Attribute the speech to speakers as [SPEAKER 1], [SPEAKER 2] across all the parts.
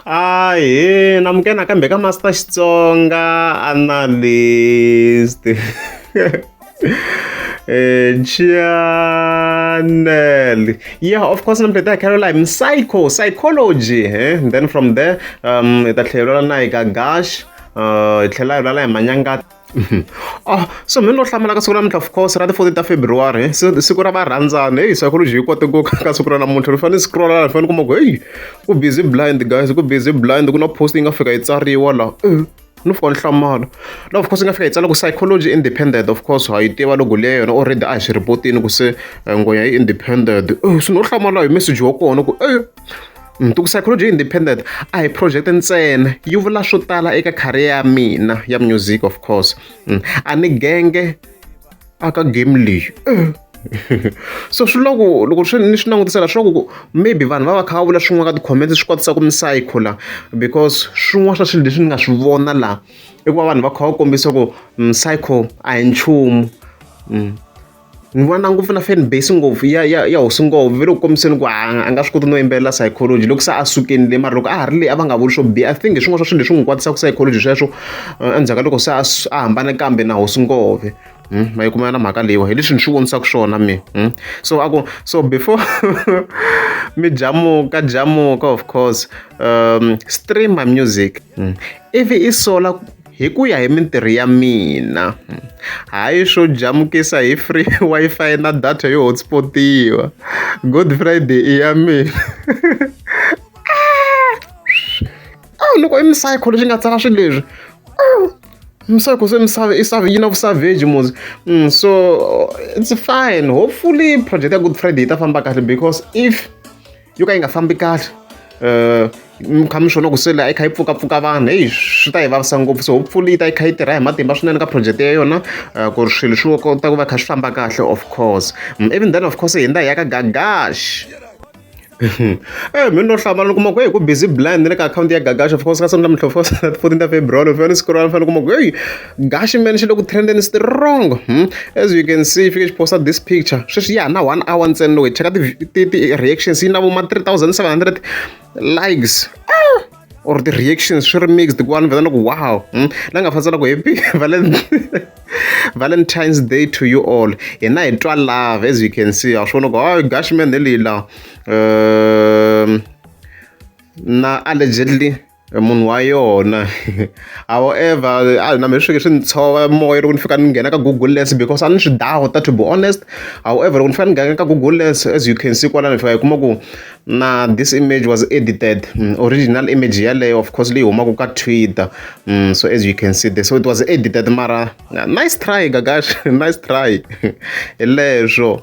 [SPEAKER 1] a hi namuke nakambe ka master xitsonga analyst Eh, channel yeah of course nambe ta caroline psycho psychology eh? then from there um ta tlhelela na hi ka gash uh, hi tlhela hi lala hi manyangata so mehe ni lo hlamula ka siku namuntlha of course ra ti fourteen ta February siku ra varhandzani heyi psychology yi kote ku ka siku ra namuntlha ni fanele ni scrolla ni fanele ni kuma ku heyi ku busy blind guys ku busy blind ku na post yi nga fika yi tsariwa la ni fika ni hlamala la of course yi nga fika yi tsala ku psychology independent of course ha yi tiva logo leyi yona already a hi swi report-ini ku se eh, ngoya yi independent eh, so ni lo hlamala hi message wa kona ku e Ntuku Psychology yi Independent a hi project ntsena yi vula swo tala eka career ya mina ya music of course mm. a ni genge aka game leyi so swi loko loko swi ni swi langutisela swi loko maybe vanhu va va kha va vula swin'wana ka ti-comments swi kotisa ku misayikho la because swin'wana swa swilo leswi ni nga swi vona la i ku va vanhu va kha va kombisa ku misayikho a hi nchumu mm. Ni vona ngopfu na fan base ngopfu ya ya ya hosi ngopfu ve le ku kombiseni ku a nga swi koti no yimbelela psychology loko se a sukeni le mara loko a ha ri le a va nga vuli swo biha i think hi swin'wana swa swilo leswi n'wi kwatisaka psychology sweswo endzhaku ka loko se a a hambane kambe na hosi ngopfu ma yi kuma na mhaka leyiwa hi leswi ni swi vonisaka swona mina so a ku so before mi jamuka jamuka of course stream my music ivi i sola. hi ku ya hi mintirho ya mina hayi swo jamukisa hi free Wi-Fi na data yo hotspotiwa good friday i ya mina awu loko i misayikho lexi nga tsala swilo leswi misayikho se misava i save yi na vusavage muzi mm, so it's fine hopefully project ya good friday yi ta famba kahle because if yo ka yi nga fambi kahle mi kha mi swi vona ku se leyi a yi kha yi pfukapfuka vanhu heyi swi ta hi vavisa ngopfu so hopefully yi ta yi kha yi tirha hi matimba swinene ka project ya yona eh, ku ri swilo swi kota ku va kha swi famba kahle of course mm, even then of course hi ndza hi ya ka gagash Eh mina no hlamala kuma ku hey ku busy blind ni le ka akhawunti ya gagash of course ka sonto mihlovo 14 ta february fanele scroll fanele kuma ku hey gashi man xi le ku trendeni strong hmm? as you can see fike xi posta this picture sweswi ya na one hour ntsena loyi cheka ti-reactions yi na vo ma 3700 likes ah! or ti-reactions swi ri mixed ku vanhu vetana ku wow hmm? la nga fanisa na ku happy valentine's day to you all hina hi twa love as you can see a swi vona ku hayi gashi man hi leyi laha um, na allegedly Munhu wa yona however a na mehe swi swi ndzi tshova moya loko ni fika ni nghena ka google lens because a ni swi doubt-a to be honest however loko ni fane ni nghena ka google lens as you can see kwalano ni fika hi kuma ku na this image was edited original image yeleyo of course leyi humaka ka twitter so as you can see this so it was edited mara nice try Gagash nice try hi leswo.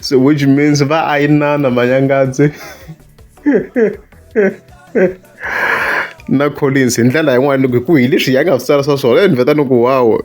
[SPEAKER 1] so which means va ayinana manyangadzi na collins hi ndlela yin'wana loko hi ku hi leswi ya nga swi tsarisa swona e ni veta ni ku wawo